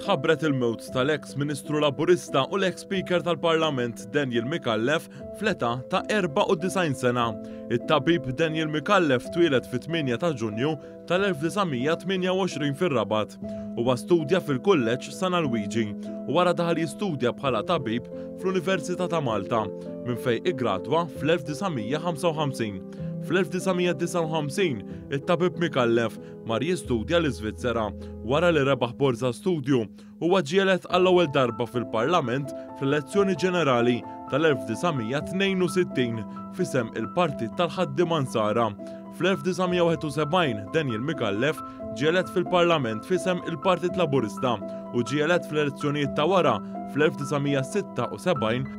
ħabbret il-mewt tal-eks Ministru Laburista u l-eks Speaker tal-Parlament Daniel Mikallef fl-età ta' 94 sena. It-tabib Daniel Mikallef twieled fit-8 ta' Ġunju tal-1928 fir-Rabat. Huwa studja fil-Kulleġġ San Alwiġi u wara daħal jistudja bħala tabib fl-Università ta' Malta, minn fejn iggradwa fl-1955. Fl-1959, it-tabib Micallef mar jistudja l-Iżvizzera wara li rebaħ borża studju Huwa ġielet għall-ewwel darba fil-Parlament fl-elezzjoni ġenerali tal-1962 f'isem il-Partit tal-Ħaddiema Nsara. Fl-1971 Daniel Micallef ġielet fil-Parlament f'isem il-Partit Laburista u ġielet fl-elezzjonijiet ta' wara fl-1976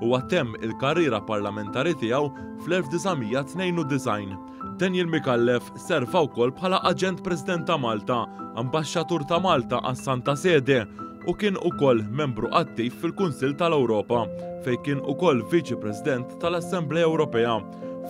Huwa temm il-karriera parlamentari tiegħu fl-1992. Daniel Micallef serva wkoll bħala Aġent President ta' Malta, Ambaxxatur ta' Malta għas-Santa Sede u kien ukoll membru attiv fil-Kunsill tal-Ewropa, fejn kien ukoll Viċi President tal-Assemblea Ewropea.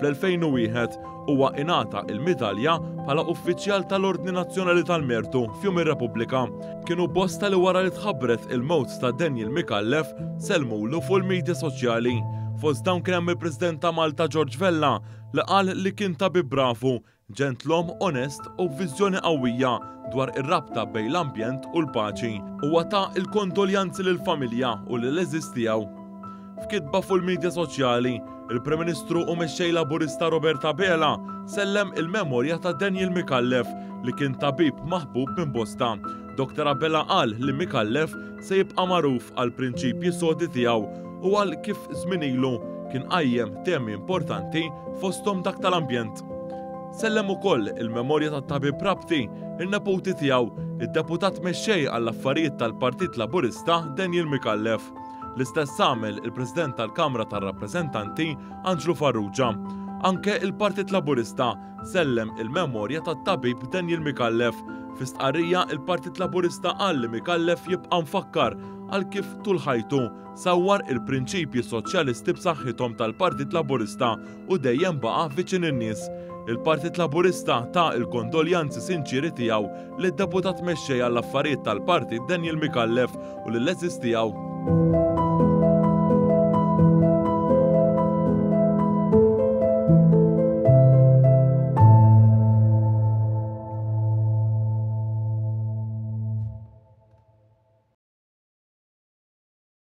Fl-2001, huwa ingħata l-Midalja bħala Uffiċjal tal-Ordni Nazzjonali tal-Mertu f'Jum ir-Repubblika. Kienu bosta li wara li tħabbret il-mewt ta' Daniel Micallef, sellmulu fuq il-midja soċjali. Fost dawn kien hemm il-President ta' Malta George Vella li qal li kien tabib bravu Ġentlom onest u b'viżjoni qawwija dwar ir-rabta bejn l-ambjent u l-paċi, huwa ta l-kondoljanzi lill-familja u lill-għeżież tiegħu. F'kitba fuq il-midja soċjali, il-Prim Ministru u Mexxej Laburista Robert Abela sellem il-memorja ta' Daniel Micallef li kien tabib maħbub minn bosta. Dr Abela qal li Micallef se jibqa' magħruf għall-prinċipji sodi tiegħu u għal kif żmien ilu kien qajjem temi importanti fosthom dak tal-ambjent. Sellem ukoll il-memorja tat-Tabib Rabti, in-neputi tiegħu, id-Deputat Mexxej għall-Affarijiet tal-Partit Laburista Daniel Micallef. L-istess għamel il-President tal-Kamra tar-Rappreżentanti Anġlu Farrugia. Anke il-Partit Laburista sellem il-memorja tat-Tabib Daniel Micallef. Fi stqarrija il-Partit Laburista qal li Micallef jibqa' mfakkar għal kif tul ħajtu sawwar il-prinċipji soċjalisti b'saħħithom tal-Partit Laburista u dejjem baqa' viċin in-nies. Il-Partit Laburista ta l-kondoljanzi sinċieri tiegħu lid-Deputat Mexxej għall-Affarijiet tal-Partit Daniel Micallef u lill-għeżież tiegħu.